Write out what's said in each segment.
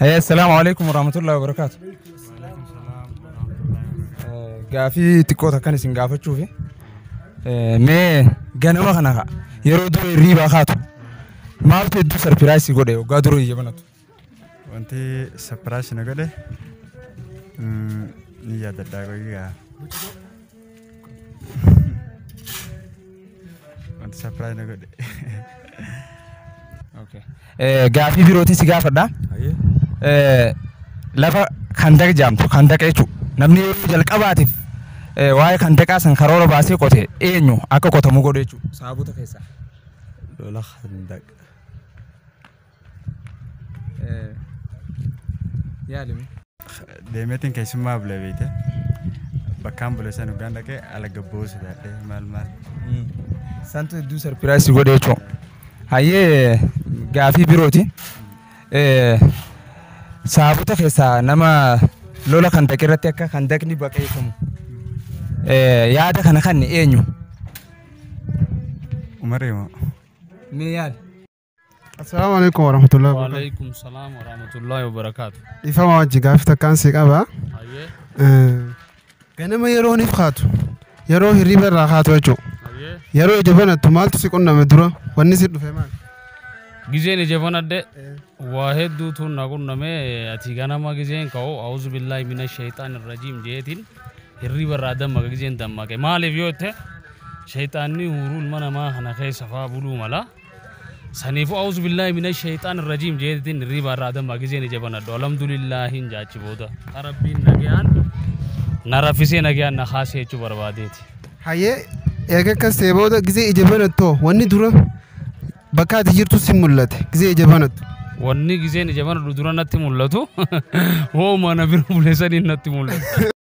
Hey, Assalamu alaikum warahmatullahi wabarakatuh. Gaafii xiqqoo takkan isin gaafachuuf mee ganama kana ka yeroo dura hirriibaa kaatu maaltu hedduu sarpiraayisii godhe waggaa dura iyya banatu. Wanti sapiraayisii na godhe ni yaadadhaa qoyyaa. Wanti sapiraayi na godhe. Gaafii birootii si gaafadha. Hayyee. Eh, lafa kandaq jaamtu kandaq jechuudha. Namni yeroo jalqabaatiif eh, waa'ee kandaqaa san karoora baasee qote eenyu akka qotamu godhe jechuudha. Saabota keessaa. Lola handaq. Yaalimi. Deemeetiin keessummaa bule beekte. Bakkaan bule san dhugaan dhaqee ala gabboo sodaadhee maal maal. Santu hedduu sarpiraayisii godhe jechuudha. Hayyee gaafii birooti. Saabota keessaa nama lola kan daqe irratti akka kan daqni baqeeffamu. Yaada kana kan eenyu? Umaree moo. Mee yaada. Assalaamu alaikum warahmatullahi wabarakatuh. Waalaikum salaam wa rahmatullahi wa barakaatu. Dhiifama wajji gaaffii takkaan si qaba. Hayyee. Eh, Ganama yeroo ni kaatu yeroo hirriba irraa kaatu jechuudha. Hayyee. Yeroo ija banattu maaltu si qunname dura wanni si dhufe maal? Gizeen ija banadhe waa hedduutu na qunname ati ganama gizeen ka'u auzu billahi mina shayxaan irrajiim jeetiin hirriba irraa dammaqa gizeen dammaqe maaliif yoo jette shayxaanni huuruu ilma namaa kana keessa faa buluu mala Saniifu auzu billahi minash shayxaan irrajiim jeetiin hirriibaa irraa adammaa gizee ni jabanadhu alhamdulillaahin jaachi booda ka rabbiin nagayaan na raffisee nagayaan na kaasee jechuu barbaadeeti. Hayyee eega akkas ta'e booda gizee ija banattu wanni dura bakka ati jirtu si mul'ate gizee ija banattu. Wanni gizeen ija banadhu dura natti mul'atu hooma na bira buleesaniin natti mul'atu.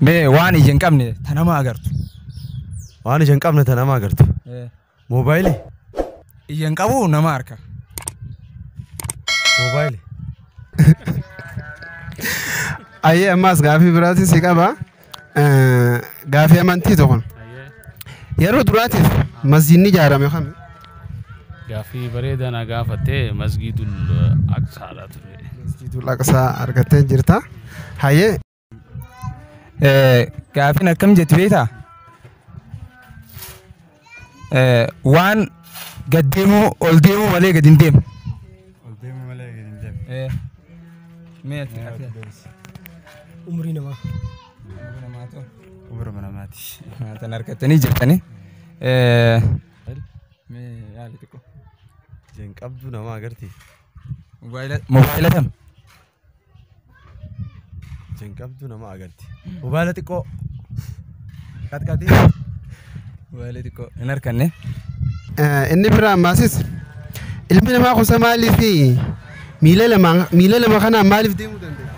Mee waan ija hin qabne ta nama agartu. Waan ija hin qabne ta nama agartu. Moobaayilii? Ija hin qabu nama harka. Moobaayilii. Ayyee ammaas gaafii biraatiin si qaba. Eh, Gaafii amantii tokko. Yeroo duraatiif masjiidni ijaarame kami? Gaaffii bareedaa na gaafatte masgiidul aqsaadha ture. Masjiidul Aqsaa argattee jirta. Hayyee Eh, Gaafiin akkam jetti beektaa? Eh, Waan gad deemuu ol deemuu malee gad hin deemu. Eh, mee ati- ati- Umrii namaa. Umrii namaati. Haa, tan argattanii jirtanii. Eh, Jan qabdu nama agarti. Mobaayila kam? Jan qabdu nama agarti. Mobaayila xiqqoo. Qaxqaxii. Mobaayila xiqqoo hin harkanne. Inni biraan maasis ilmi namaa kusa maaliif miila lama miila lama kanaan maaliif deemuu danda'a?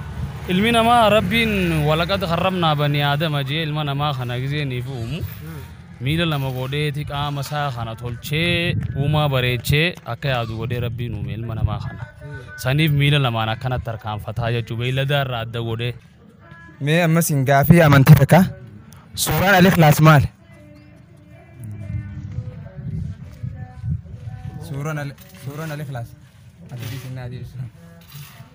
Ilmi namaa rabbiin walaqad harramnaa banii aadama jee ilma namaa kana gizee niif uumu. Miila lama godheeti qaama isaa kana tolchee uumaa bareechee akka yaadu godhee rabbiin uume ilma namaa kana. Saniif miila lamaan akkanatti harkaanfataa jechuu beeyladaa irraa adda godhee. Mee ammas hin gaafii amantii takka. Suuraan Al-Ikhlaas maal? Suuraan Al- Suuraan Al-Ikhlaas. Adda biisinaa deebisa.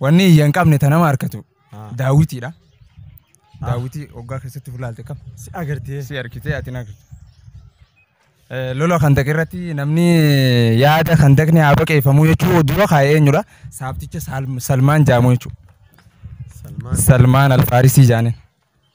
Wanni iyya hin qabne ta nama harkatu Ah. daawwitiidha. Daawwitii hoggaa keessatti fulaalte kam Si agartee. si harkitee ati hin harkitu. Eh, Lola kandaq irratti namni yaada kandaqni haa baqeeffamu jechuu dura kaa'e eenyudha? Saabticha Saalm- Salmaan jaamu jechuudha. Salmaan. Salmaan Alfaarisii jaaniin.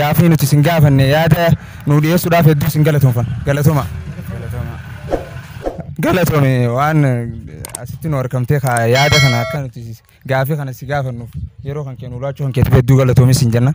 Gaaffii nuti isin gaafanne yaada nuu dhiyeessuudhaaf hedduu isin galatoomfanna. Galatoma. Galatoome waan asitti nu argamtee ka yaada kana akka nuti gaaffii kana si gaafannuuf yeroo kan kennu laachuu kan keetiif hedduu galatoomi isin jenna.